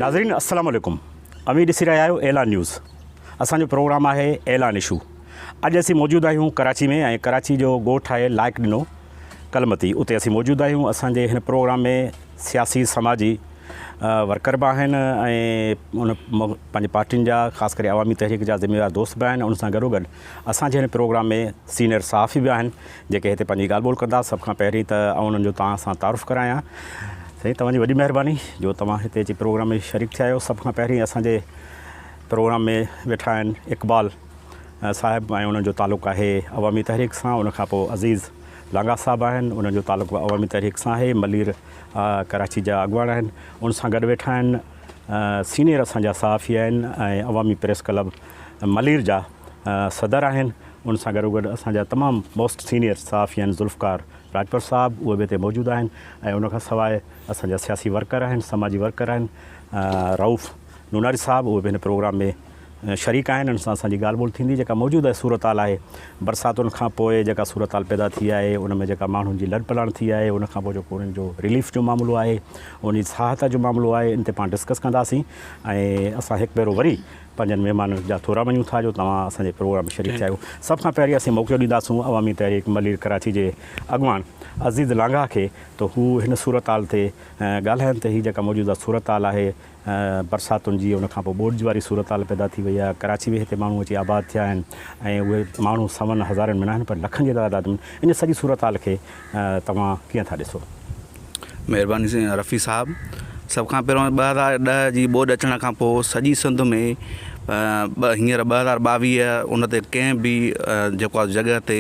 ناظرين السلام عليڪم اوهين ڏسي رهيا آهيو اعلان نيوز اسان جو پروگرام آهي اعلان اشو اڄ اسين موجود آهيون ڪراچي ۾ ۽ ڪراچي جو ڳوٺ آهي لائق ڏنو ڪلمتي اتي اسين موجود آهيون اسان جي هن پروگرام ۾ سياسي سماجي ورڪر به آهن ۽ ان پنهنجي پارٽين جا خاص ڪري عوامي تحريڪ جا ذميوار دوست به آهن ان سان گڏوگڏ اسان جي هن پروگرام ۾ سينئر صحافي به آهن جيڪي هتي پنهنجي ڳالهه ٻولهه ڪندا سڀ کان پهرين ته آئون انهن جو توهان سان تعارف ڪرايان سائين توهان جي وڏي مهرباني جو توهان هتي اچي پروگرام ۾ شريڪ ٿيا آهيو سڀ کان پهرين اسان جي پروگرام ۾ ويٺا آهن اقبال صاحب ۽ انهن جو تعلق آهي عوامي تحريڪ سان ان کان پوء عزيز لانگاهه صاحب آهن انهن جو تعلق به عوامي تحريڪ سان آهي ملير ڪراچي جا اڳواڻ آهن ان سان گڏ ويٺا آهن سينئر اسان جا صحافي آهن ۽ عوامي پريس ڪلب ملير جا صدر آهن ان سان گڏو گڏ اسان جا تمام موسٽ سينيئر صحافي آهن ذوالفقار راڄپر صاحب اهي به هتي موجود آهن ۽ ان کان سواء اسان جا سياسي ورڪر آهن سماجي ورڪر آهن رئوف نوناري صاحب اهي به هن پروگرام ۾ شريڪ آهن ان سان اسان جي ڳالهه ٻولهه ٿيندي جيڪا موجوده صورتحال آهي برساتن کان پوء جيڪا صورتحال پيدا ٿي آهي ان ۾ جيڪا ماڻهن جي لڏ پلاڻ ٿي آهي ان کان پوء جيڪو انهن جو رليف جو معاملو آهي ان جي سهائتا جو معاملو آهي ان تي پاڻ ڊسڪس ڪنداسين ۽ اسان هڪ ڀيرو وري پنهنجن مهمانن جا ٿورا مڃون ٿا جو توهان اسان جي پروگرام ۾ شريڪ ٿيا آهيو. سڀ کان پهرين اسين موقعو ڏينداسون عوامي تحريڪ ملير ڪراچي جي اڳواڻ عزيز لانگاهه کي ته هو هن صورتحال تي ڳالهائن ته هي جيڪا موجوده صورتحال آهي برساتن جي ان کان پوء ٻوڏ واري صورتحال پيدا ٿي وئي آهي ڪراچي ۾ هتي ماڻهو اچي آباد ٿيا آهن ۽ اهي ماڻهو سون هزارين ۾ ناهن پر لکن جي تعداد ۾ ان سڄي صورتحال کي توهان ڪيئن ٿا ڏسو؟ مھرباني سائين رفيع صاحب سڀ کان پھريون ٻه ھزار ڏهه جي ٻوڏ اچڻ کان پوء سڄي سنڌ ۾ ٻه ھينئر ٻه ھزار ٻاويهه ان تي ڪنهن به جيڪو آ جڳهه تي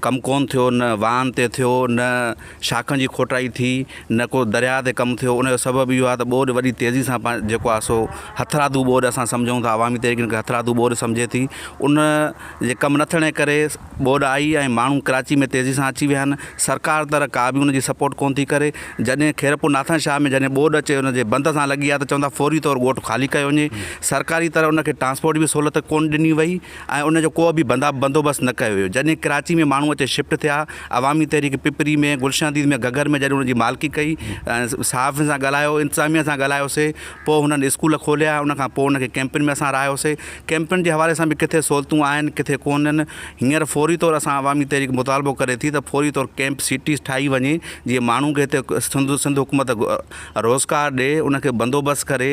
ڪم ڪون ٿيو نه واھن تي ٿيو نه شاخن جي کوٽائي ٿي نه ڪو درياء تي ڪم ٿيو ان جو سبب اھو آ ته ٻوڏ وڏي تيزي سان پنهنجو جيڪو آ سو ھٿرادو ٻوڏ اسان سمجهون ٿا عوامي طريقي کي ھٿرادو ٻوڏ سمجهي ٿي ان جي ڪم نه ٿيڻ جي ڪري ٻوڏ آئي ۽ ماڻهو ڪراچي ۾ تيزي سان اچي ويا آهن، سرڪار طرح ڪا به ان جي سپورٽ ڪونه ٿي ڪري، جڏهن خيرپور ناٿن شاهه ۾ جڏهن ٻوڏ اچي ان جي بند سان لڳي آهي ته چون ٿا فوري طور ڳوٺ خالي ڪيو وڃي، سرڪاري طرح ان کي ٽرانسپورٽ جي به سهولت ڪونه ڏني وئي ۽ ان جو ڪو به بندا بندوبست نه ڪيو ويو، جڏهن ڪراچي ۾ ماڻهو اچي شفٽ ٿيا، عوامي تحريڪ پپري ۾ گلشن عزيز ۾ گهگهر ۾ جڏهن ان جي مالڪي ڪئي، صحافين سان ڳالهايو، انتظاميه سان ڳالهايوسي، پوء هنن اسڪول کوليا، ان کان پوء هن کي ڪئمپن ۾ اسان رهايوسين. ڪئمپن جي حوالي سان به ڪٿي سهولتون آهن، ڪٿي ڪونهن. هينئر فوري طور اسان عوامي تحريڪ مطالبو ڪري ٿي ته فوري طور ڪئمپ سٽيز ٺاهي وڃي، جيئن ماڻهن کي هتي سنڌ حڪومت روزگار ڏئي، ان کي بندوبست ڪري.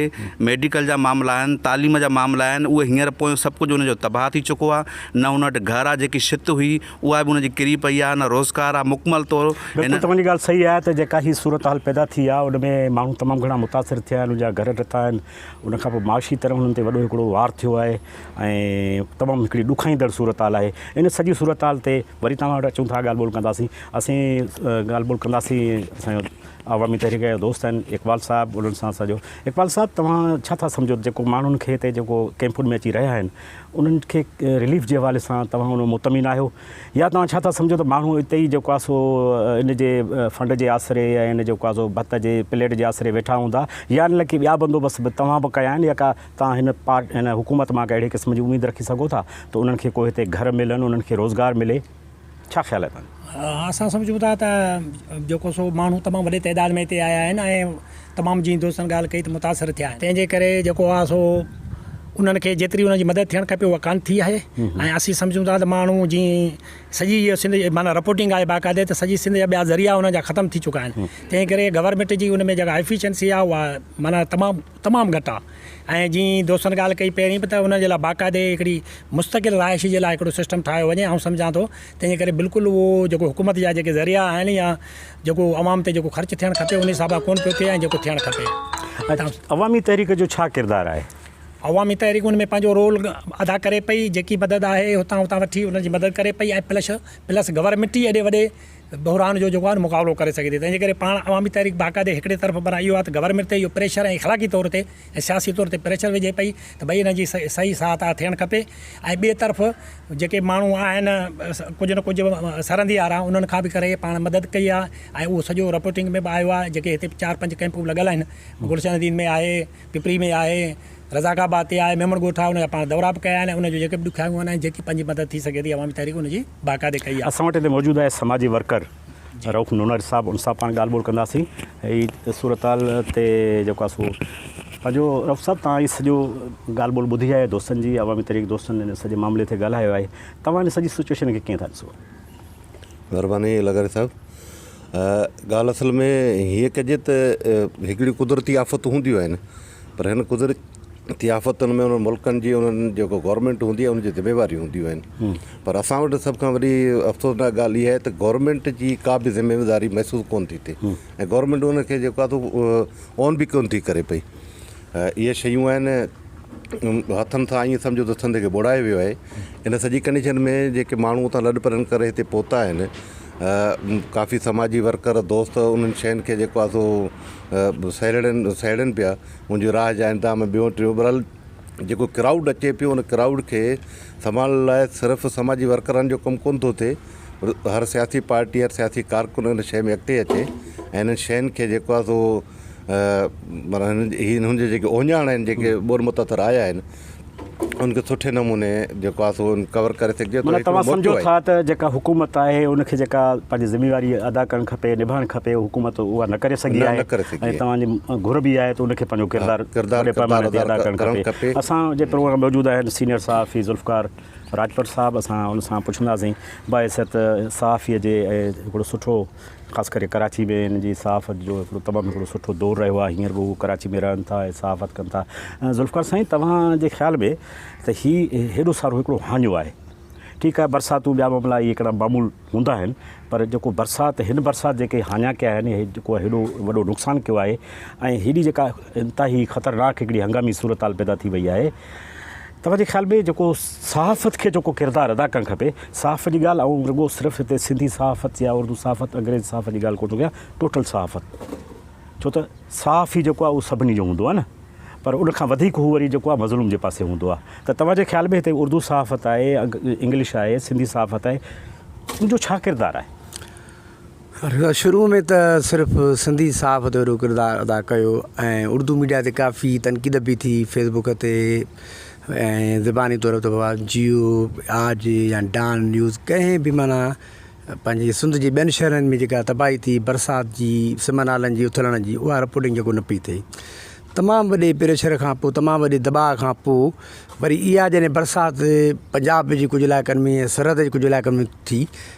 ميڊيڪل جا معاملا آهن، تعليم جا معاملا آهن، اهي هينئر پويون سڀ ڪجهه هن جو تباهه ٿي چڪو آهي. نه هن وٽ گهر آهي، جيڪي ڇت هئي، اها به ان جي ڪري پئي آهي، نه روزگار آهي، مڪمل طور هن. بلڪل توهان جي ڳالهه صحيح آهي ته جيڪا هي صورتحال پيدا ٿي آهي ان ۾ ماڻهو تمام گهڻا متاثر ٿيا آهن انهن جا گهر ٽٽا آهن ان کان پوء معاشي طرح انهن تي وڏو هڪڙو وار ٿيو آهي ۽ تمام هڪڙي ڏکائيندڙ صورتحال آهي ان سڄي صورتحال تي وري توهان وٽ اچون ٿا ڳالهه ٻولهه ڪنداسين اسين ڳالهه ٻولهه ڪنداسين اسان جو عوامي تحريڪ جا دوست آهن اقبال صاحب انهن سان سڄو اقبال صاحب توهان ڇا ٿا سمجهو ته جيڪو ماڻهن کي هتي جيڪو ڪيمپن ۾ اچي رهيا آهن انهن کي رليف جي حوالي سان توهان ان مطمئن آهيو يا توهان ڇا ٿا سمجهو ته ماڻهو اتي ئي جيڪو آهي سو ان جي فنڊ جي آسري يا ان جيڪو آهي سو ڀت جي پليٽ جي آسري ويٺا هوندا يا ان لاء ڪي ٻيا بندوبست به توهان به ڪيا آهن يا ڪا توهان هن پارٽ ان حڪومت مان ڪا اهڙي قسم جي اميد رکي سگهو ٿا ته انهن کي ڪو هتي گهر ملن انهن کي روزگار ملي. ڇا خيال آهي تنهنجو؟ اسان سمجهون ٿا ته جيڪو سو ماڻهو تمام وڏي تعداد ۾ هتي آيا آهن ۽ تمام جئين دوستن ڳالهه ڪئي ته متاثر ٿيا آهن تنهنجي ڪري جيڪو آهي سو انهن کي جيتري انهن جي مدد ٿيڻ کپي اها ڪانه ٿي آهي ۽ اسين سمجهون ٿا ته ماڻهو جي سڄي جي سنڌ جي معنيٰ رپورٽنگ آهي باقاعدي ته سڄي سنڌ جا ٻيا ذريعا انهن جا ختم ٿي چڪا آهن تنهنجي ڪري گورنمينٽ جي ان ۾ جيڪا ايفيشنسي آهي اها معنيٰ تمام تمام گهٽ آ ۽ جئين دوستن ڳالهه ڪئي پهرين به ته انهن جي لاء باقاعدي هڪڙي مستقل رهائش جي لاء هڪڙو سسٽم ٺاهيو وڃي آئون سمجهان ٿو تنهن جي ڪري بلڪل اهو جيڪو حڪومت جا جيڪي ذريعا آهن يا جيڪو عوام تي جيڪو خرچ ٿيڻ کپي انهي حساب سان ڪون پيو ٿئي ۽ جيڪو ٿيڻ کپي. عوامي تحريڪ جو ڇا ڪردار آهي؟ عوامي تحريڪ ان ۾ پنهنجو رول ادا ڪري پئي جيڪي مدد آهي هتان هتان وٺي انهن جي مدد ڪري پئي ۽ پلس پلس گورنمينٽ ئي ايڏي وڏي بحران جو جيڪو آهي نه مقابلو ڪري سگهي ٿي تنهن جي ڪري پاڻ عوامي تحريڪ باقاعدي هڪڙي طرف پر اهو آهي ته گورنمينٽ تي اهو پريشر ۽ اخلاقي طور تي ۽ سياسي طور تي پريشر وجهي پئي ته ڀئي هن جي صحيح ساهه تاهه ٿيڻ کپي ۽ ٻئي طرف جيڪي ماڻهو آهن ڪجهه نه ڪجهه سرندي وارا انهن کان به ڪري پاڻ مدد ڪئي آهي ۽ اهو سڄو رپورٽنگ ۾ به آيو آهي جيڪي هتي چار پنج ڪئمپون لڳل آهن گلشن حديد ۾ آهي پپري ۾ آهي، رزاق آباد تي آهي، ميمڻ ڳوٺ آهي ان جا پاڻ دورا به ڪيا آهن ۽ ان جون جيڪي به ڏکيائيون آهن ۽ جيڪي پنهنجي مدد ٿي سگهي ٿي عوامي تحريڪ ان جي باقاعدي ڪئي آهي. اسان وٽ هتي موجود آهي سماجي ورڪر رئوف نونر صاحب ان سان پاڻ ڳالهه ٻولهه ڪنداسين هي صورتحال تي جيڪو آهي سو پنهنجو رئوف صاحب توهان هي سڄو ڳالهه ٻولهه ٻڌي آهي دوستن جي عوامي تحريڪ دوستن هن سڄي معاملي تي ڳالهايو آهي توهان هن سڄي سچوئيشن کي ڪيئن ٿا ڏسو؟ مهرباني لغاري صاحب ڳالهه اصل ۾ هيء ڪجي ته هڪڙيون قدرتي آفتون هونديون آهن پر هن قدرتي آفتن ۾ انهن ملڪن جي انهن جيڪو گورنمينٽ هوندي آهي ان جي ذميواريون هونديون آهن پر اسان وٽ سڀ کان وڏي افسوسناڪ ڳالهه اها آهي ته گورنمينٽ جي ڪا به ذميواري محسوس ڪونه ٿي ٿئي ۽ گورنمينٽ ان کي جيڪو آهي سو اون به ڪونه ٿي ڪري پئي اهي شيون آهن هٿن سان ائين سمجهو ته سنڌ کي ٻوڙائي ويو آهي ان سڄي ڪنڊيشن ۾ جيڪي ماڻهو اتان لڏپلاڻ ڪري هتي پهتا آهن ڪافي سماجي ورڪر دوست انهن شين کي جيڪو آهي سو سهيڙين سهيڙين پيا ان جي راهه جا انتظام ٻيو ٽيون برحال جيڪو ڪرائوڊ اچي پيو ان ڪرائوڊ کي سنڀالڻ لاء صرف سماجي ورڪرن جو ڪم ڪون ٿو ٿئي پر هر سياسي پارٽي هر سياسي ڪارڪن ان شين ۾ اڳتي اچي ۽ انهن شين کي جيڪو آهي سو معنيٰ هنن جي هنن جي جيڪي اوهڃاڻ آهن جيڪي ٻور متاثر آيا آهن ان کي سٺي نموني جيڪو آهي سو ڪور ڪري سگهجي ٿو معنيٰ توهان سمجهو ٿا ته جيڪا حڪومت آهي ان کي جيڪا پنهنجي ذميواري ادا ڪرڻ کپي نڀائڻ کپي حڪومت اها نه ڪري سگهي آهي ۽ توهان جي گهر به آهي ته ان کي پنهنجو ڪردار وڏي پئماني تي ادا ڪرڻ کپي اسان جي پروگرام موجود آهن سينيئر صحافي ذوالفقار راڄپر صاحب اسان ان سان پڇنداسين باعزت صحافي جي هڪڙو سٺو خاص ڪري ڪراچي ۾ هن جي صحافت جو هڪڙو تمام هڪڙو سٺو دور رهيو آهي هينئر به هو ڪراچي ۾ رهن ٿا ۽ صحافت ڪن ٿا ذوالفقار سائين توهان جي خيال ۾ ته هي هيڏو سارو هڪڙو هاڃو آهي ٺيڪ آهي برساتون ٻيا معاملا اهي هڪڙا معمول هوندا آهن پر جيڪو برسات هن برسات جيڪي هاڃا ڪيا آهن هي جيڪو هيڏو وڏو نقصان ڪيو آهي ۽ هيڏي جيڪا انتهائي خطرناڪ هڪڙي هنگامي صورتحال پيدا ٿي وئي آهي توهان جي خيال ۾ جيڪو صحافت کي جيڪو ڪردار ادا ڪرڻ کپي صحافت جي ڳالهه آئون رڳو صرف هتي سنڌي صحافت يا اردو صحافت انگريزي صحافت جي ڳالهه ڪونه ٿو ڪيان ٽوٽل صحافت ڇو ته صحافي جيڪو آهي اهو سڀني جو هوندو آهي نه پر ان کان وڌيڪ هو وري جيڪو آهي مظلوم جي پاسي هوندو آهي ته توهان جي خيال ۾ هتي اردو صحافت آهي انگلش آهي سنڌي صحافت آهي ان جو ڇا ڪردار آهي؟ شروع ۾ ته صرف سنڌي صحافت جو اهڙو ڪردار ادا ڪيو ۽ اردو ميڊيا تي ڪافي تنقيد به ٿي فيس بڪ تي ۽ زباني طور ته بابا جيو آج يا ڊان نيوز ڪنهن به معنيٰ پنهنجي سنڌ جي ٻين شهرن ۾ جيڪا تباهي ٿي برسات جي سم نالن جي اٿلڻ جي اها رپورٽنگ جيڪو نه پئي ٿئي تمام وڏي پريشر کان پوء تمام وڏي دٻاء کان پوء وري اها جڏهن برسات پنجاب جي ڪجهه علائقن ۾ سرحد جي ڪجهه علائقن ۾ ٿي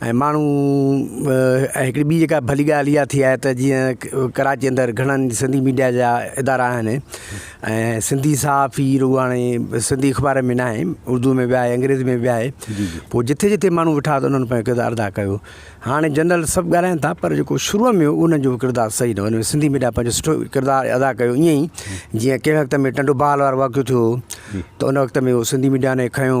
۽ ماڻهو ۽ هڪڙي ٻي جيڪا ڀلي ڳالهه اها ٿي آهي ته جيئن ڪراچي اندر گهڻن سنڌي ميڊيا جا ادارا آهن ۽ سنڌي صحافي رڳو هاڻي سنڌي اخبارن ۾ ناهي اردو ۾ به آهي انگريزي ۾ به آهي پوء جتي جتي ماڻهو ويٺا ته انهن پنهنجو ڪردار ادا ڪيو هاڻي جنرل سڀ ڳالهائن ٿا پر جيڪو شروع ۾ هو انهن جو ڪردار صحيح نه هو سنڌي ميڊيا پنهنجو سٺو ڪردار ادا ڪيو ائين ئي جيئن ڪنهن وقت ۾ ٽنڊو بال وارو واقعو ٿيو هو ته ان وقت ۾ هو سنڌي ميڊيا ني کنيو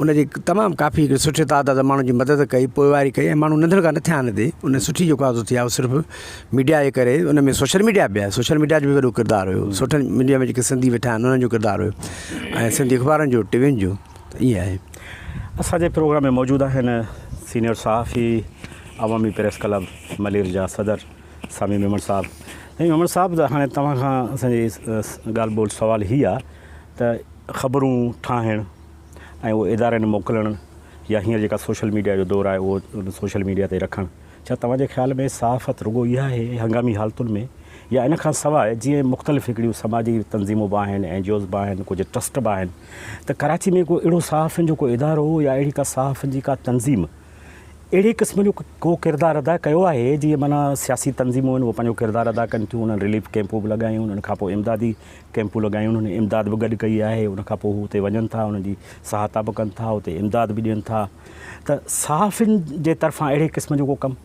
ان جي تمام ڪافي هڪ سٺي تعداد ماڻهن جي مدد ڪئي پوئواري ڪئي ۽ ماڻهو ننڍڙ کان نه ٿيا ان تي ان سٺي جيڪو آزو ٿي آهي هو صرف ميڊيا جي ڪري ان ۾ سوشل ميڊيا بي آهي سوشل ميڊيا جو بي وڏو ڪردار هيو سوشل ميڊيا ۾ جيڪي سنڌي ويٺا آهن انهن جو ڪردار هيو ۽ سنڌي اخبارن جو ٽي وين جو ته ائين آهي اساجي پروگرام ۾ موجود آهن سينيئر صحافي عوامي پريس ڪلب ملير جا صدر سامي ميمڻ صاحب سامي ميمڻ صاحب هاڻي توهان کان اسان جي ڳالهه ٻولهه سوال هي آهي ته خبرون ٺاهڻ ۽ اهو ادارن موڪلڻ يا هينئر جيڪا سوشل ميڊيا جو دور آهي اهو سوشل ميڊيا تي رکڻ ڇا توهان جي خيال ۾ صحافت رڳو اها آهي هنگامي حالتن ۾ يا ان کان سواء جيئن مختلف هڪڙيون سماجي تنظيمون به آهن اين جي اوز به آهن ڪجهه ٽرسٽ به آهن ته ڪراچي ۾ ڪو اهڙو صحافين جو ڪو ادارو يا اهڙي ڪا صحافين جي ڪا تنظيم اهڙي قسم جو ڪو ڪردار ادا ڪيو آهي جيئن معنيٰ سياسي تنظيمون آهن اهي پنهنجو ڪردار ادا ڪن ٿيون انهن رليف ڪيمپون به لڳايون انهن کان پوء امدادي ڪئمپون لڳايون انهن امداد به گڏ ڪئي آهي ان کان پوء هو اتي وڃن ٿا انهن جي سهائتا به ڪن ٿا اتي امداد به ڏين ٿا ته صحافين جي طرفان اهڙي قسم جو ڪو ڪم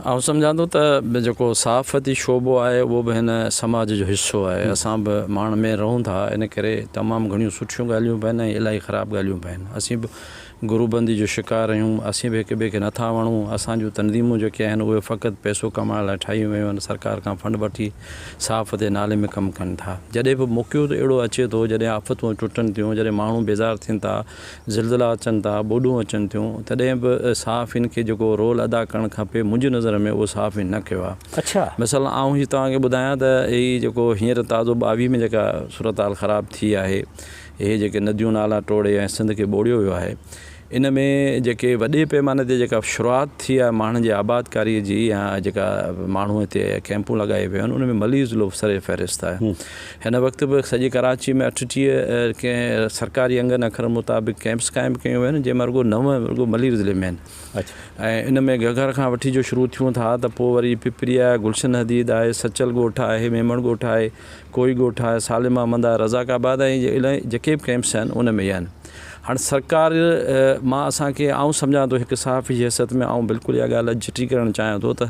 آئون سمجهان ٿو ته جيڪو صحافتي شعبو آهي اهو به هن سماج جو حصو آهي اسان به ماڻ مير رهون ٿا ان ڪري تمام گهڻيون سٺيون ڳالهيون به آهن ۽ الاهي خراب ڳالهيون به آهن اسين به گروه بندي جو شڪار رهيون، اسين به هڪ ٻئي کي نه ٿا وڻون، اسان جون تنظيمون جيڪي آهن اهي فقط پئسو ڪمائڻ لاء ٺاهيون ويون آهن، سرڪار کان فنڊ وٺي صاف تي نالي ۾ ڪم ڪن ٿا، جڏهن به موقعو ته اهڙو اچي ٿو جڏهن آفتون ٽٽن ٿيون، جڏهن ماڻهو بيزار ٿين ٿا، زلزلا اچن ٿا، ٻوڏون اچن ٿيون، تڏهن به صحافين کي جيڪو رول ادا ڪرڻ کپي منهنجي نظر ۾ اهو صحافين نه ڪيو آهي، اڇا. مثلا آئون هي توهان کي ٻڌايان ته هي جيڪو هينئر تازو ٻاويهه ۾ جيڪا صورتحال خراب ٿي آهي. اهي جيڪي نديون نالا ٽوڙي ۽ سنڌ کي ٻوڙيو ويو آهي ان ۾ جيڪي وڏي پئماني تي جيڪا شروعات ٿي آهي ماڻهن جي آبادڪاري جي يا جيڪا ماڻهو هتي ڪئمپون لڳائي ويو آهن ان ۾ ملير ضلعو سر فهرست آهي هن وقت به سڄي ڪراچي ۾ اٺٽيهه ڪئين سرڪاري انگن اکرن مطابق ڪئمپس قائم ڪيون ويون آهن جنهن مان رڳو نو رڳو ملير ضلعي ۾ آهن ۽ ان ۾ گهگهر کان وٺي جو شروع ٿيون ٿا ته پوء وري پپريا گلشن حديد آهي سچل ڳوٺ آهي ميمڻ ڳوٺ آهي ڪوئي ڳوٺ آهي، سالم احمد آهي، رزاق آباد آهي ۽ الائي جيڪي به ڪئمپس آهن ان ۾ اهي آهن. هاڻ سرڪار مان اسان کي آئون سمجهان ٿو هڪ صحافي جي حيثيت ۾ آئون بلڪل اها ڳالهه اڄ چٽي ڪرڻ چاهيان ٿو ته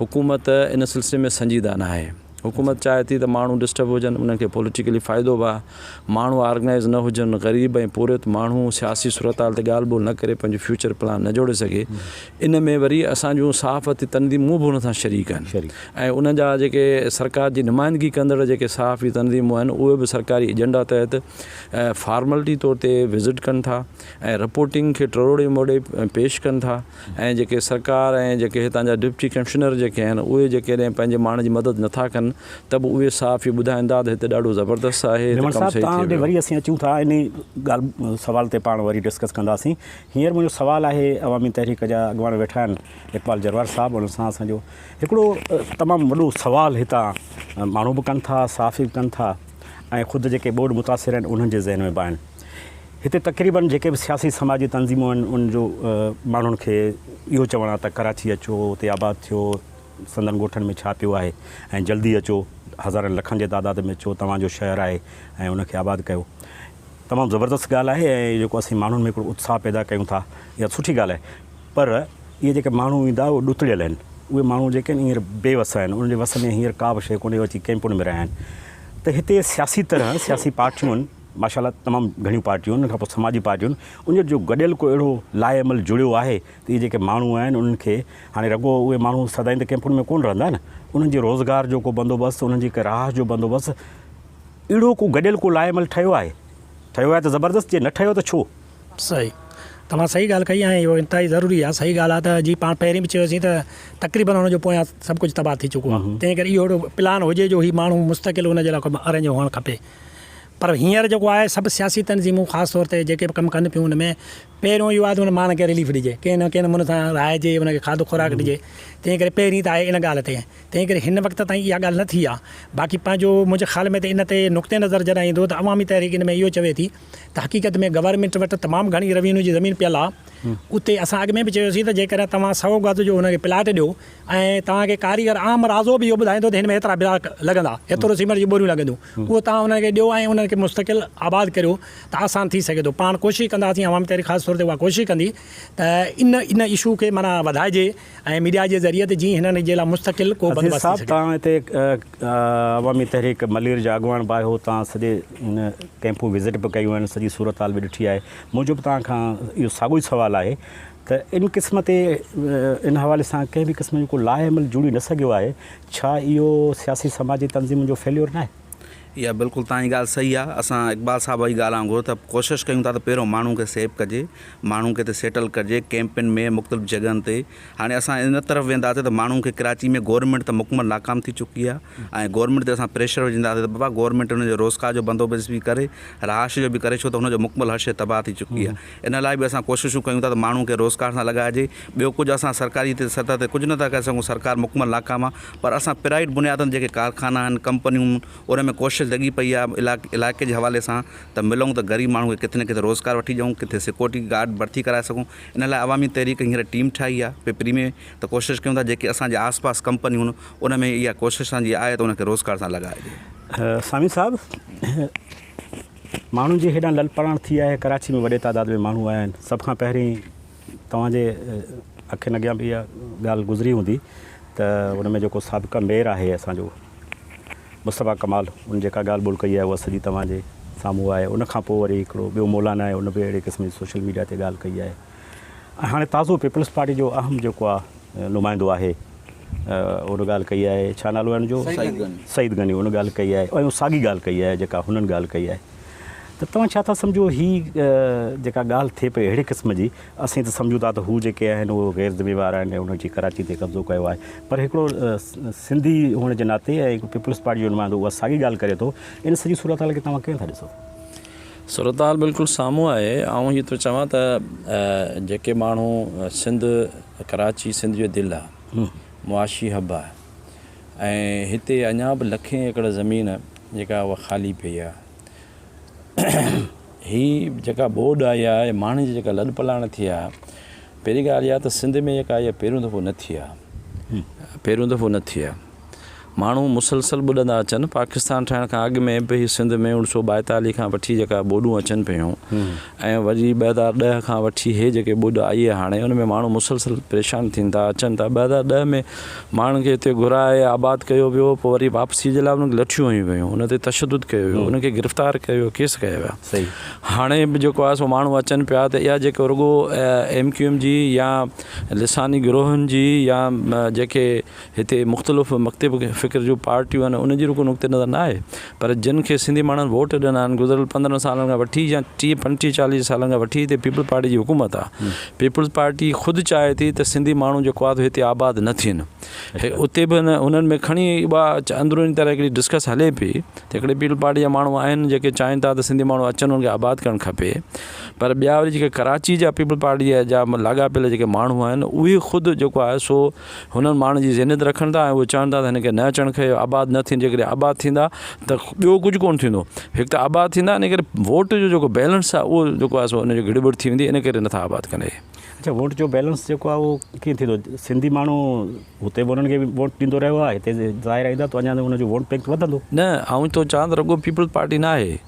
حڪومت ان سلسلي ۾ سنجيده نه آهي. حڪومت چاهي ٿي ته ماڻهو ڊسٽرب هجن، انهن کي پوليٽيڪلي فائدو به آهي، ماڻهو آرگنائيز نه هجن، غريب ۽ پورهيت ماڻهو سياسي صورتحال تي ڳالهه ٻولهه نه ڪري پنهنجو فيوچر پلان نه جوڙي سگهي، ان ۾ وري اسان جون صحافتي تنظيمون به ان سان شريڪ آهن ۽ ان جا جيڪي سرڪار جي نمائندگي ڪندڙ جيڪي صحافي تنظيمون آهن اهي به سرڪاري ايجنڊا تحت فارملٽي طور تي وزٽ ڪن ٿا ۽ رپورٽنگ کي ٽروڙي موڙي پيش ڪن ٿا ۽ جيڪي سرڪار ۽ جيڪي هتان جا ڊپٽي ڪمشنر جيڪي آهن اهي جيڪڏهن پنهنجي ماڻهن جي مدد نه ٿا ڪن ته به اهي صحافي ٻڌائيندا ته هتي ڏاڍو زبردست آهي ته ڪم صحيح ٿي ويو آهي. وري اسين اچون ٿا انهي ڳالهه سوال تي پاڻ وري ڊسڪس ڪنداسين هينئر منهنجو سوال آهي عوامي تحريڪ جا اڳواڻ ويٺا آهن اقبال جروار صاحب انهن سان اسان جو هڪڙو تمام وڏو سوال هتان ماڻهو به ڪن ٿا صحافي به ڪن ٿا ۽ خود جيڪي ٻوڏ متاثر آهن انهن جي ذهن ۾ به آهن هتي تقريبن جيڪي به سياسي سماجي تنظيمون آهن ان جو ماڻهن کي اهو چوڻ آهي ته ڪراچي اچو اتي آباد ٿيو سندن ڳوٺن ۾ ڇا پيو آهي ۽ جلدي اچو هزارن لکن جي تعداد ۾ اچو توهان جو شهر آهي ۽ ان کي آباد ڪيو تمام زبردست ڳالهه آهي ۽ جيڪو اسين ماڻهن ۾ هڪڙو اتساهه پيدا ڪيون ٿا اها سٺي ڳالهه آهي پر اهي جيڪي ماڻهو ايندا اهي ڏتڙيل آهن اهي ماڻهو جيڪي آهن هينئر بي وس آهن انهن جي وس ۾ هينئر ڪا به شيء ڪونهي اچي ڪئمپن ۾ رهيا آهن ته هتي سياسي طرح سياسي پارٽيون ماشاء الله تمام گهڻيون پارٽيون انهن کان پوء سماجي پارٽيون ان جو جو گڏيل ڪو اهڙو لاهي عمل جڙيو آهي ته اهي جيڪي ماڻهو آهن انهن کي هاڻي رڳو اهي ماڻهو سدائين ته ڪئمپن ۾ ڪونه رهندا نه انهن جي روزگار جو ڪو بندوبست انهن جي ڪي راهه جو بندوبست اهڙو ڪو گڏيل ڪو لاء عمل ٺهيو آهي؟ ٺهيو آهي ته زبردست، جي نه ٺهيو ته ڇو؟ صحيح توهان صحيح ڳالهه ڪئي ۽ اهو انتهائي ضروري آهي صحيح ڳالهه آهي ته جي پاڻ پهرين به چيوسين ته تقريبن ان جو پويان سڀ ڪجهه تباهه ٿي چڪو آهي تنهن ڪري اهو اهڙو پلان هجي جو هي ماڻهو مستقل ان جي لاء ارينج هئڻ کپي پر هينئر جيڪو آهي سڀ سياسي تنظيمون خاص طور تي جيڪي به ڪم ڪن پيون ان ۾ پهريون اهو آهي ته ان ماڻهن کي رليف ڏجي ڪنهن نه ڪنهن نموني سان رهائجي ان کي کاڌو خوراڪ ڏجي تنهن ڪري پهرين ته آهي ان ڳالهه تي تنهن ڪري هن وقت تائين اها ڳالهه نه ٿي آهي. باقي پنهنجو منهنجي خيال ۾ ته ان تي نقطه نظر جڏهن ايندو ته عوامي تحريڪ ان ۾ اهو چوي ٿي ته حقيقت ۾ گورنمينٽ وٽ تمام گهڻي روينيو جي زمين پيل آهي اتي اسان اڳ ۾ به چيو سين ته جيڪڏهن توهان سؤ گز جو ان کي پلاٽ ڏيو ۽ توهان کي ڪاريگر عام رازو به اهو ٻڌائيندو ته هن ۾ هيترا بلاڪ لڳندا هيترو سيمنٽ جون ٻوريون لڳنديون اهو توهان انهن کي ڏيو ۽ انهن کي مستقل آباد ڪريو ته آسان ٿي سگهي ٿو پاڻ ڪوشش ڪنداسين عوامي تحريڪ خاص طور تي اها ڪوشش ڪندي ته ان ان اشو کي معنيٰ وڌائجي ۽ ميڊيا جي ذريعي تي جي هنن جي لا مستقل ڪو بندوبست ٿي سگهي. عزيز صاحب تان هتي عوامي تحريڪ ملير جا اڳواڻ به آيو تان سڄي ان ڪيمپون وزٽ به ڪيون آهن سڄي صورتحال به ڏٺي آهي منهنجو به تان کان اهو ساڳو ئي سوال آهي ته ان قسم تي ان حوالي سان ڪنهن به قسم جو ڪو لائحه عمل جوڙي نه سگهيو آهي ڇا اهو سياسي سماجي تنظيمن جو فيليور ناهي؟ اها بلڪل توهان جي ڳالهه صحيح آ اسان اقبال صاحب جي ڳالهه وانگر ته ڪوشش ڪيون ٿا ته پهريون ماڻهون کي سيف ڪجي ماڻهون کي اتي سيٽل ڪجي ڪيمپن ۾ مختلف جڳهن تي هاڻي اسان ان طرف وينداسين ته ماڻهون کي ڪراچي ۾ گورمينٽ ته مڪمل ناڪام ٿي چڪي آ ۽ گورمينٽ تي اسان پريشر وجهنداسين ته بابا گورمينٽ ان جو روزگار جو بندوبست به ڪري رهائش جو به ڪري ڇو ته هن جو مڪمل هر شي تباهه ٿي چڪي آ ان لاء به اسان ڪوششون ڪيون ٿا ته ماڻهون کي روزگار سان لڳائجي ٻيو ڪجهه اسان سرڪاري سطح تي ڪجهه نه ٿا ڪري سگهون سرڪار مڪمل ناڪام آ پر اسان پرائيويٽ بنيادن جيڪي ڪارخانا آهن ڪمپنيون ان ۾ ڪوشش لڳي پئي آهي علائقي جي حوالي سان ته ملون ته غريب ماڻهو کي ڪٿي نه ڪٿي روزگار وٺي ڏيون ڪٿي سيڪورٽي گارڊ ڀرتي ڪرائي سگهون ان لاء عوامي تحريڪ هينئر ٽيم ٺاهي آهي پپري ۾ ته ڪوشش ڪيون ٿا جيڪي اسان جي آس پاس ڪمپنيون ان ۾ اها ڪوشش اسان جي آهي ته ان کي روزگار سان لڳائي ڏيون. سامي صاحب ماڻهن جي هيڏانهن للپراڻ ٿي آهي ڪراچي ۾ وڏي تعداد ۾ ماڻهو آيا آهن سڀ کان پهرين توهان جي اکين اڳيان به اها ڳالهه گذري هوندي ته ان ۾ جيڪو سابقه ميئر آهي اسان جو مصطفيٰ ڪمال ان جيڪا ڳالهه ٻولهه ڪئي آهي اها سڄي توهان جي سامهون آهي ان کان پوء وري هڪڙو ٻيو مولانا آهي ان به اهڙي قسم جي سوشل ميڊيا تي ڳالهه ڪئي آهي ۽ هاڻي تازو پيپلز پارٽي جو اهم جيڪو آهي نمائندو آهي ان ڳالهه ڪئي آهي ڇا نالو آهي ان جو سعيد غني ان ڳالهه ڪئي آهي ۽ ساڳي ڳالهه ڪئي آهي جيڪا هنن ڳالهه ڪئي آهي. ته توهان ڇا ٿا سمجهو هي جيڪا ڳالهه ٿئي پئي اهڙي قسم جي اسين ته سمجهون ٿا ته هو جيڪي آهن اهي غير ذميوار آهن ۽ انهن جي ڪراچي تي قبضو ڪيو آهي پر هڪڙو سنڌي هئڻ جي ناتي ۽ پيپلز پارٽي جو نمائندو اها ساڳي ڳالهه ڪري ٿو ان سڄي صورتحال کي توهان ڪيئن ٿا ڏسو؟ صورتحال بلڪل سامهون آهي آئون هي ٿو چوان ته جيڪي ماڻهو سنڌ ڪراچي سنڌ جو دل آهي معاشي حب آهي ۽ هتي اڃا به لکين ايڪڙ زمين جيڪا اها خالي پئي آهي. هي جيڪا ٻوڏ آئي آهي ۽ ماڻهن جي جيڪا لڏپلاڻ ٿي آهي، پهرين ڳالهه اها ته سنڌ ۾ جيڪا اها پهريون دفعو نه ٿي آهي. پهريون دفعو نه ٿي آهي. ماڻهو مسلسل ٻڏندا اچن. پاڪستان ٺهڻ کان اڳ ۾ به سنڌ ۾ اوڻ سؤ ٻائيتاليهه کان وٺي جيڪا ٻوڏون اچن پيون ۽ وري ٻه هزار ڏهه کان وٺي هي جيڪي ٻوڏ آئي آهي هاڻي ان ۾ ماڻهو مسلسل پريشان ٿين ٿا اچن ٿا. ٻه هزار ڏهه ۾ ماڻهن کي هتي گهرائي آباد ڪيو ويو پوء وري واپسي جي لاء انهن کي لٺيون هنيون ويون انهن تي تشدد ڪيو ويو انهن کي گرفتار ڪيو ويو ڪيس ڪيا ويا هاڻي به جيڪو آهي سو ماڻهو اچن پيا ته اها جيڪو رڳو ايم ڪيو ايم جي يا لساني گروهن جي يا جيڪي هتي مختلف مڪتب فڪر جون پارٽيون آهن انهن جي رڳو نقطي نظر نه آهي پر جن کي سنڌي ماڻهن ووٽ ڏنا آهن گذريل پندرهن سالن کان وٺي يا ٽيهه پنجٽيهه چاليهه سالن کان وٺي هتي پيپلز پارٽي جي حڪومت آ پيپلز پارٽي خود چاهي ٿي ته سنڌي ماڻهو جيڪو آ هتي آباد نه ٿين اتي به انهن ۾ کڻي اها اندروني طرح هڪڙي ڊسڪس هلي پئي ته هڪڙي پيپلز پارٽي جا ماڻهو آهن جيڪي چاهين ٿا ته سنڌي ماڻهو اچن انهن کي آباد ڪرڻ کپي پر ٻيا وري جيڪي ڪراچي جا پيپلز پارٽي جا لاڳاپيل جيڪي ماڻهو آهن اهي خود جيڪو آهي سو هنن ماڻهن جي ذهنيت رکن ٿا ۽ اهي چون ٿا ته هن کي نه اچڻ کهي آباد نه ٿين جيڪڏهن آباد ٿيندا ته ٻيو ڪجهه ڪونه ٿيندو هڪ ته آباد ٿيندا ان ڪري ووٽ جو جيڪو بيلنس آهي اهو جيڪو آهي سو ان جو گڙٻڙ ٿي ويندي ان ڪري نٿا آباد ڪن اهي. اڇا ووٽ جو بيلنس جيڪو آهي اهو ڪيئن ٿيندو سنڌي ماڻهو هتي به انهن کي ووٽ ڏيندو رهيو آهي هتي ظاهر ايندا ته اڃا ان جو ووٽ بينڪ وڌندو. نه آئون ٿو چوان ته رڳو پيپلز پارٽي ناهي.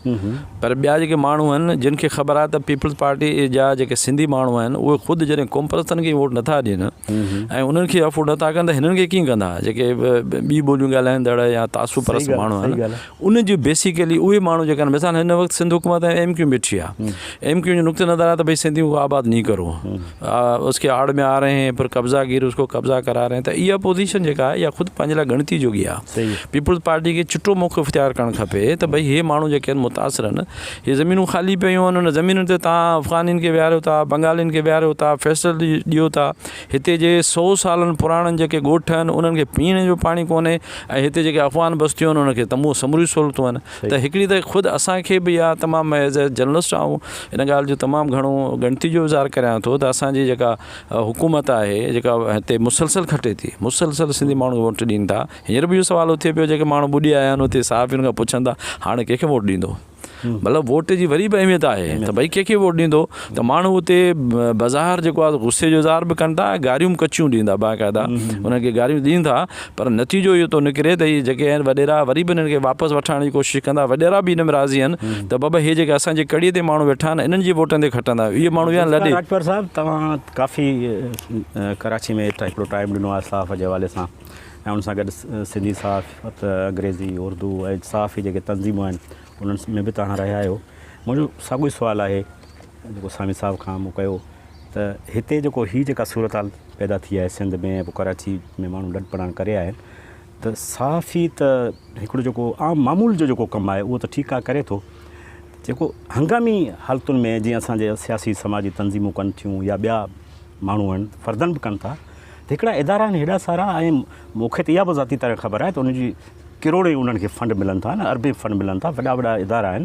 پر ٻيا جيڪي ماڻهو آهن جن کي خبر آهي ته پيپلز پارٽي جا جيڪي سنڌي ماڻهو آهن اهي خود جڏهن قومپرستن کي ووٽ نٿا ڏين ۽ انهن کي افورڊ نٿا ڪن ته هنن کي ڪيئن ڪندا جيڪي ٻي ٻوليون ڳالهائيندڙ يا تعصب پرست ماڻهو آهن انهن جي بيسيڪلي اهي ماڻهو جيڪي آهن مثال هن وقت سنڌ حڪومت ۽ ايم ڪيو بيٺي آهي ايم ڪيو جو نقطه نظر آهي ته ڀئي سنڌيون آباد ني ڪرو اس کي آڙ ۾ آ رهي هين پر قبضا گير اس کي قبضا ڪرا رهي هين ته اها پوزيشن جيڪا آهي اها خود پنهنجي لاء ڳڻتي جوڳي آهي پيپلز پارٽي کي چٽو موقعو اختيار ڪرڻ کپي ته ڀئي هي ماڻهو جيڪي آهن متاثر آهن هي زمينون خالي پيون آهن ان زمينن تي تان افغانين کي ويهاريو ٿا بنگالين کي ويهاريو ٿا فيصل ڏيو ٿا هتي جي سو سالن پراڻن جيڪي ڳوٺ آهن انهن کي پيئڻ جو پاڻي ڪونهي ۽ هتي جيڪي افغان بستيون آهن انهن کي تمهون سموري سهولتون آهن ته هڪڙي ته خود اسان کي به اها تمام ايز اي جرنلسٽ آئون ان ڳالهه جو تمام گهڻو ڳڻتي جو اظهار ڪريان ٿو ته اسان جي جيڪا حڪومت آهي جيڪا هتي مسلسل کٽي ٿي مسلسل سنڌي ماڻهو کي ووٽ ڏين ٿا هينئر به اهو سوال اٿي پيو جيڪي ماڻهو ٻڏي آيا آهن اتي صحافين کان پڇن ٿا هاڻي ڪنهن کي ووٽ ڏيندو مطلب ووٽ جي وري به اهميت آهي ته ڀئي ڪنهن کي ووٽ ڏيندو ته ماڻهو اتي بظاهر جيڪو آهي غصي جو اظهار به ڪن ٿا ۽ گاريون به ڪچيون ڏين ٿا باقاعده انهن کي گاريون ڏين ٿا پر نتيجو اهو ٿو نڪري ته اهي جيڪي آهن وڏيرا وري به انهن کي واپس وٺڻ آڻڻ جي ڪوشش ڪندا. وڏيرا به ان ۾ راضي آهن ته بابا اهي جيڪي اسان جي ڪڙي تي ماڻهو ويٺا آهن انهن جي ووٽن تي کٽندا آهيون. اهي ماڻهو ويا لڏي. راڄپر صاحب توهان ڪافي ڪراچي ۾ هڪڙو ٽائيم ڏنو آهي صحافت جي حوالي سان ۽ ان سان گڏ سنڌي صحافت انگريزي اردو ۽ صحافي جيڪي تنظيمون آهن انهن ۾ به توهان رهيا آهيو منهنجو ساڳيو سوال آهي جيڪو سامي صاحب کان مون ڪيو ته هتي جيڪو هي جيڪا صورتحال پيدا ٿي آهي سنڌ ۾ ۽ پوء ڪراچي ۾ ماڻهو لڏ پلاڻ ڪري آيا آهن ته صحافي ته هڪڙو جيڪو عام معمول جو جيڪو ڪم آهي اهو ته ٺيڪ آهي ڪري ٿو جيڪو هنگامي حالتن ۾ جيئن اسان جي سياسي سماجي تنظيمون ڪن ٿيون يا ٻيا ماڻهو آهن فردن به ڪن ٿا ته هڪڙا ادارا آهن هيڏا سارا ۽ مون کي ته اها به ذاتي طرح خبر آهي ته ان جي ڪروڙين انهن کي فنڊ ملن ٿا نه اربين فنڊ ملن ٿا وڏا وڏا ادارا آهن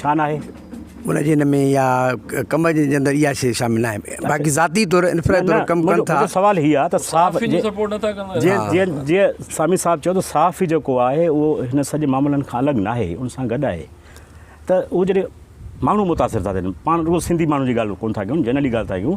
ڇا ناهي؟ مون جي هن ۾ يا ڪم جي جي اندر اها شيء شامل ناهي باقي ذاتي طور انفرادي طور ڪم ڪن ٿا. منهنجو سوال هي آهي ته صاف صحافين جي سپورٽ نٿا ڪن ٿا جيئن جيئن جيئن سامي صاحب چيو ته صحافي جيڪو آهي اهو هن سڄي معاملن کان الڳ ناهي ان سان گڏ آهي ته اهو جڏهن ماڻهو متاثر ٿا ٿين پاڻ رڳو سنڌي ماڻهو جي ڳالهه ڪونه ٿا ڪيون جنرلي ڳالهه ٿا ڪيون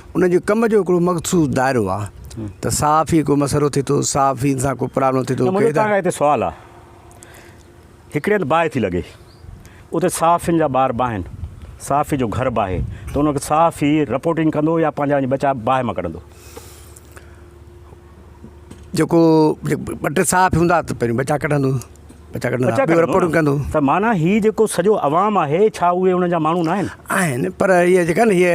ان جي ڪم جو هڪڙو مخصوص دائرو آ ته صحافي ڪو مسئلو ٿي ٿو صحافي سان ڪو پرابلم ٿي ٿو ڪي ته هاڻي هتي سوال آ هڪڙي هنڌ باهه ٿي لڳي اتي صحافين جا ٻار باهن صحافي جو گهر باهي ته ان کي صحافي رپورٽنگ ڪندو يا پنهنجا وڃي ٻچا باهه مان ڪڍندو جيڪو ٻه ٽي ساهه به هوندا ته پهريون ٻچا ڪڍندو ٻچا ڪڍندو ٻچا ڪڍندو رپورٽون ڪندو ته معنيٰ هي جيڪو سڄو عوام آهي ڇا اهي ان جا ماڻهو ناهن آهن پر هي جيڪا نه هي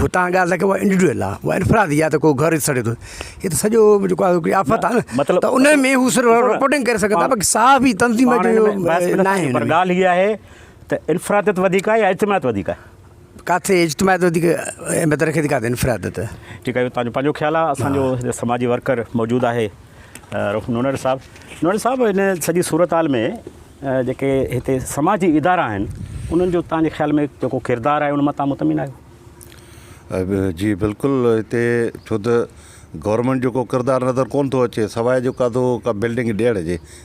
هتان ڳالهه لکي اهو انڊيوڊوئل آهي اهو انفرادي آهي ته ڪو گهر سڙي ٿو هي ته سڄو جيڪو آهي هڪڙي آفت آهي نه مطلب ته ان ۾ هو صرف رپورٽنگ ڪري سگهن ٿا باقي ساهه به تنظيم جو ناهي پر ڳالهه هي آهي ته انفراديت وڌيڪ آهي يا اجتماعيت وڌيڪ آهي ڪاٿي اجتماعيت وڌيڪ اهميت رکي ٿي ڪاٿي انفراديت. ٺيڪ آهي اهو تنهنجو پنهنجو خيال آهي اسان جو هتي سماجي ورڪر موجود آهي نوڻير صاحب نوڻير صاحب هن سڄي صورتحال ۾ جيڪي هتي سماجي ادارا آهن انهن جو تنهنجي خيال ۾ جيڪو ڪردار آهي ان مان تنهن مطمئن آهيو. جي بلڪل هتي ڇو ته گورمينٽ جو ڪو ڪردار نظر ڪون ٿو اچي سواء جو ڪاٿو ڪا بلڊنگ ڏيڻ جي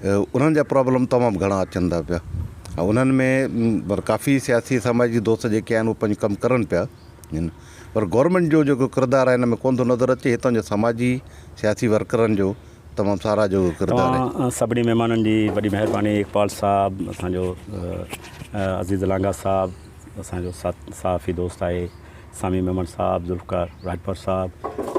انهن جا پرابلم تمام گهڻا اچن ٿا پيا ۽ انهن ۾ پر ڪافي سياسي سماجي دوست جيڪي آهن اهي پنهنجو ڪم ڪرن پيا پر گورنمينٽ جو جيڪو ڪردار آهي ان ۾ ڪونه ٿو نظر اچي هتان جو سماجي سياسي ورڪرن جو تمام ساراهه جو ڪردار آهي توهان سڀني مهمانن جي وڏي مهرباني اقبال صاحب اسان جو عزيز لانگاهه صاحب اسان جو صحافي دوست آهي سامي ميمڻ صاحب ذوالفقار راڄپر صاحب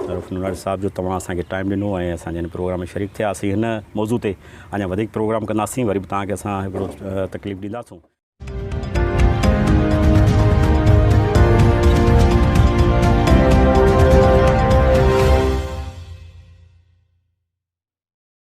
عرف نوناڻي صاحب جو توهان اسان کي ٽائم ڏنو ۽ اسان جي هن پروگرام ۾ شريڪ ٿيا اسين هن موضوع تي اڃا وڌيڪ پروگرام ڪنداسين وري به توهان کي اسان هڪڙو تڪليف ڏينداسون